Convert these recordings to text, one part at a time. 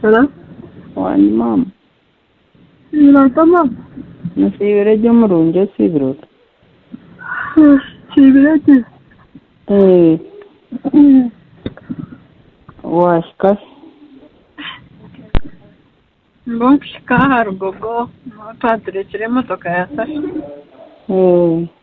Hello? Wani mama. Nilota mama? Nsiibire gye omurungi osiibire ota? Nsiibire gye. Ee. Wahika hi? Mbwo nkuhika aha rugogo niho twaturekire emotoka ya safi. Ee.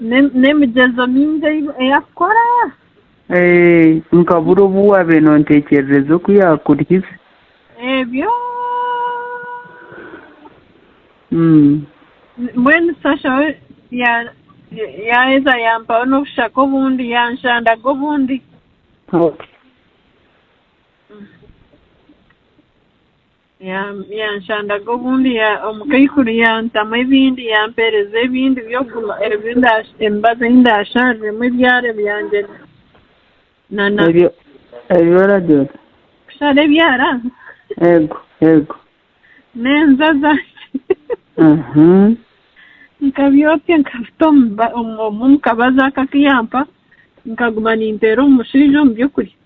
n'emigyezo mingi ei arikukora. Nka buri obu waabaire nooteekyerereza oku yaakurihize. Ebyo mbwenu shasha we yaaheza yampaho n'obushaka obundi, yanshandaga obundi. Yanshandaga obundi omu kaikuru yantamu ebindi yampeereza ebindi by'okuguma emibazi ei ndaashariremu ebyara byangye nana ebi oragira oti kushara ebyara eego eego n'enjaza nkabyokya nkabita omu kabazi ako aku yampa nkaguma ninteera omu mushaija omu by'okurya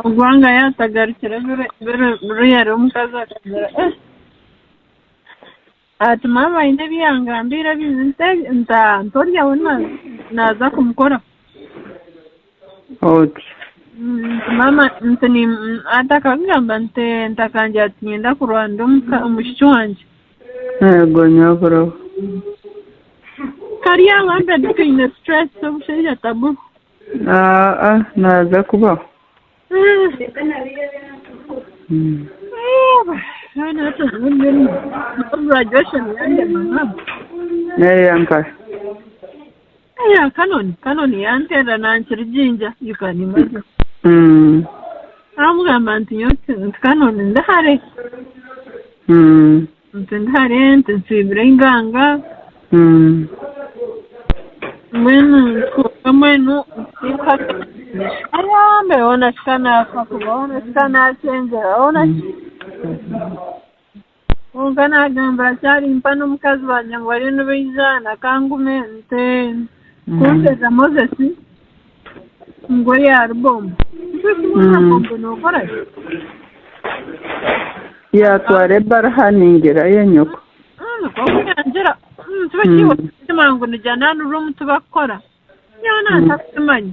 ogwanga yatagarukire buriya rero omukazi akagira ati maama aine ebi yangambiire abizi nti orya we naaza kumukoraho nti akakugamba nti ntakagira ati niinyenda kurwanira omwishiki wangye Yego nyabura. Kari aho mbwenu twine stress omushaija tabu. Aa naaza kubaho. Graduation yange mama. Neeyankare. Eya Canon, Canon yanterera nankirigingya, you can imagine. Mm. Namugamba nti nyowe ti- nti Canon ndi hare, Mm. nti ndi hare, nti nsiibire einganga, Mm. mbwenu ntuuka mbwenu nsiika Aya, mbere hoona kika naafa kuba hoona kika naacengyera, hoona ki- Kwonka naagamba ati, Ari mpa n'omukazi wangye ngu bariyo nibaijana, ka ngume nte. Kunteza Mozesi ngu ori ahari bombo. Tikyo kimwe na bombo nookora ki? Yaatwara ebara aha ningira ya nyoko. Kwonka yangira, Omutuba ki iwe orikukima ngu nigya naanurwa omutuba kukora? Nyowe naanza kukimanya.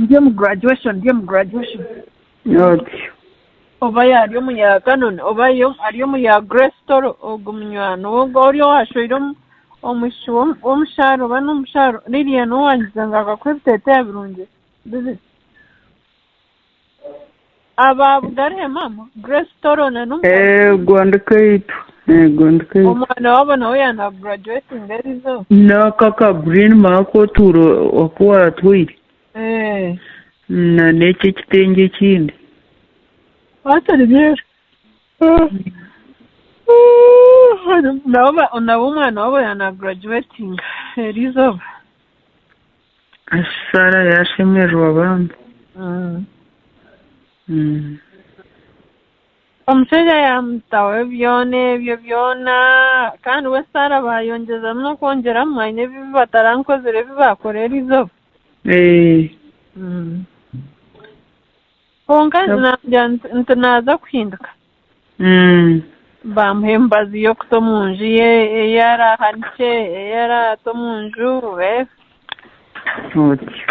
Ndi omu graduation, ndi omu graduation. N'otyo. Oba yaari omu ya Canon, oba yo ari omu ya Grace Toro, ogwo munywani we ogwo ori owashweire omu omwishiki w'omu w'omushaara oba n'omushaara Lilian owaangize ngu akakuhe ebiteeteeya birungi bibiri. Aba bugarire mama Grace Toro na n'omukazi Ego ndi kaitu. Ego ndi kaitu. omwana wabo nawe yana graduating erizo N'aka ka green ma aku otuura aku waatwaire. eh Na n'eki ekitengye ekindi. hati nibyera nabo ba- nabo omwana wabo yana graduating erizooba. Ashi Sara yaashemererwa bambi. Omushaija yaamutaho ebyona ebyo byona, kandi we Sara baayongyezamu n'okwongyeramu, aine ebibi batarankozire ebi baakora erizooba. Ee. Kwonka naagira nti naaza kuhinduka, baamuha emibazi y'okuta omu nju ye ei araahanikye, ei araata omu nju. Otyo.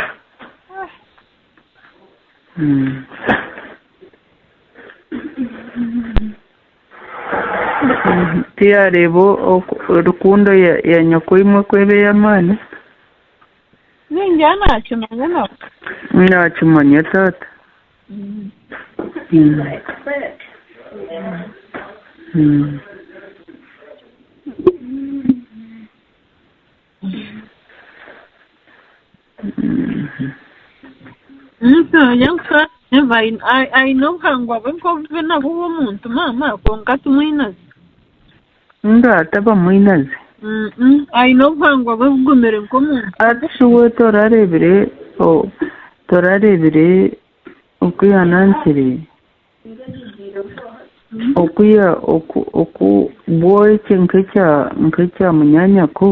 Tiyaareeba rukundo ya nyokoimwe ku eba ey'amaani. Ningira naakimanya nabwo. Naakimanya taata. Aine obuhangwa bwe nk'obu nabwo bw'omuntu maama kwonka timwinazyo. Omuntu ataba mwinazi. Aine obuhangwa bwe bugumire nk'omuntu. Hati shi we torarebire torarebire oku yanankyire oku ya oku oku bwoekye nk'ekya nk'ekya munyanyako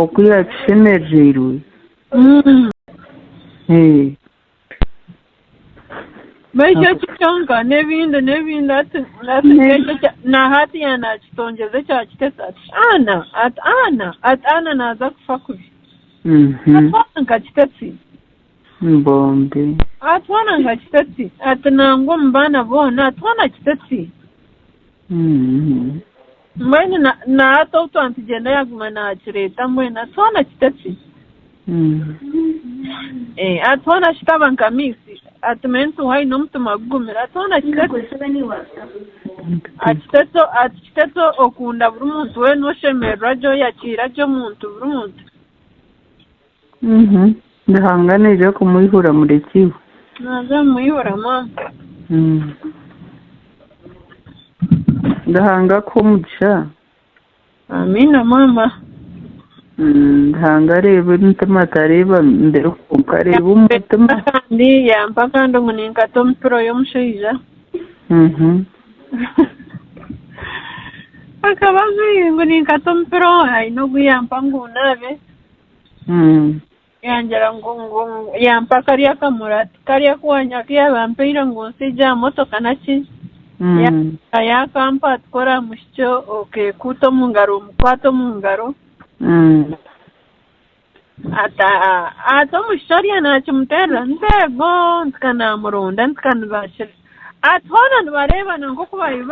oku yakishemerereirwe? N'ekyo eki kyonka n'ebindi n'ebindi ati ati N'e- n'ekyo ekya- na hati ya naakitongyeza ekyakitesa ati ana ati ana ati ana naaza kufa kubi Mhm. atwana nkakitesi Mbombi. atwana nkakitesi ati nangwa omu baana boona atwana kitesi Mhm. Mbwenu na, na hati obu twantugyenda yaguma nakireeta mbwenu hati hoona kitaki? Eh, hati hoona kitaba nka misi hati mental high n'omutima gugumire hati hoona kitaki? Akiteto akiteto okunda buri muntu weena oshemererwa gye oyakiira gye omuntu buri muntu. Ruhanga naija kumwihura mureki we. Naaza kumwihura maama. Ruhanga akuhe omugisha. Amiina maama. Ruhanga areeba emitima tareeba mibiri kwonka areeba omu mutima. Kandi yampa kandi ngu ninkata omu pilo y'omushaija. Akaba ajwaire ngu ninkata omu pilo aine ogu yampa ngu naabe. yangira ngu ngu ngu- yampa karya kamurati karya kuwanya aku yaaba ampaire ngu nsiigye aha motoka naki Ka yaakampa ati kora aha mushiki o- okeekuuta omu ngaro omukwate omu ngaro ati "Ah, ati omushiki oriya naakimuteerera nti eego nti ka naamurunda nti ka nibaakira Ati, Hoona nibareebana nk'oku baabaire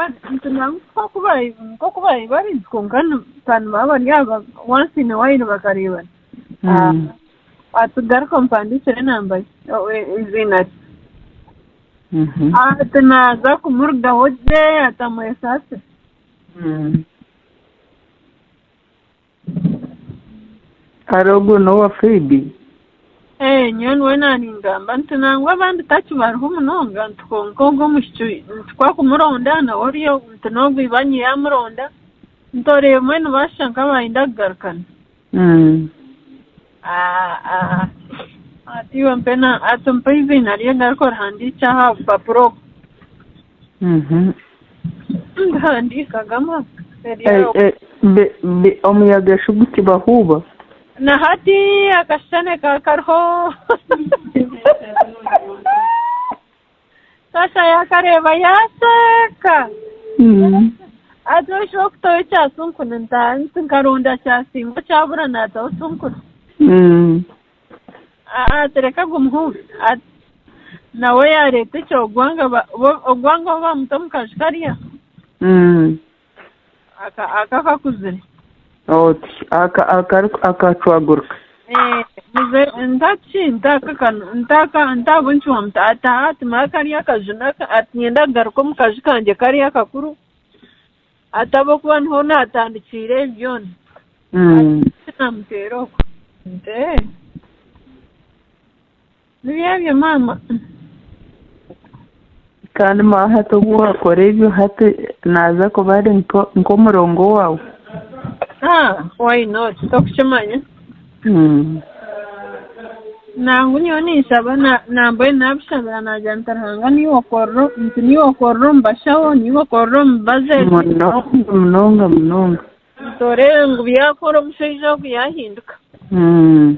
bari kwonka nibaba bari aha wansi in a while bakareebana. Ati, Garuka ompandiikire enamba ye, eiziina rye. Ati, Naaza kumurugaho gye ati, amwesasire. Hare ogwo n'owa Phoebe? Ee, nyowe niwe naaningamba nti nangwa abandi taki bariho munonga nti kwonka ogwo omwishiki nti ku akumuronda nawe ori ogu nti n'ogwo ibanyi yaamuronda nti oreebemwe nibaashusha nk'abaayenda kugarukana. Ati iwe mpena ati mpa eiziina rye ngaruke orihandiikye aha bupapura obu ndihandiika gama omuyaga shi gukibahuuba na hati akashushane ka kariho Tata yaakareeba yaasheeka. Ati, Oisha okutaho ekyasunkuna ntaha. Nti, Nkaronda kyasinga okyabura naataho sunkuna. Ati, Reka gumuhuure. Ati, Nawe yaareeta eky'ogwanga, ogwanga obu baamuta omu kaju karya. Aka aka kakuzire. Oti aka akari akacwaguruka. Eh, muze ntaki ntaka kano ntaka ntabo nkiwa muta ata ati mara kari akaju naka ati nyenda kugaruka omu kaju kanje kari akakuru atabo kuba niho natandikiire ebi byona Mm. namuteera oku nti "Eh, Nibyo ebyo maama. Kandi ma hati obu wakora ebyo hati naza kuba ari nko- nk'omurongo wawe. Ah, why not? Tokukimanya. Mm. Nangu nyowe ninshaba na- na mbwenu nabishabira nagira nti Ruhanga niiwe okorera o- nti niiwe okorera omu bashaho, niiwe okorera omu baza ezi. Munonga munonga munonga. Nti oreebe ngu byakora omushaija ogu yahinduka. Mm.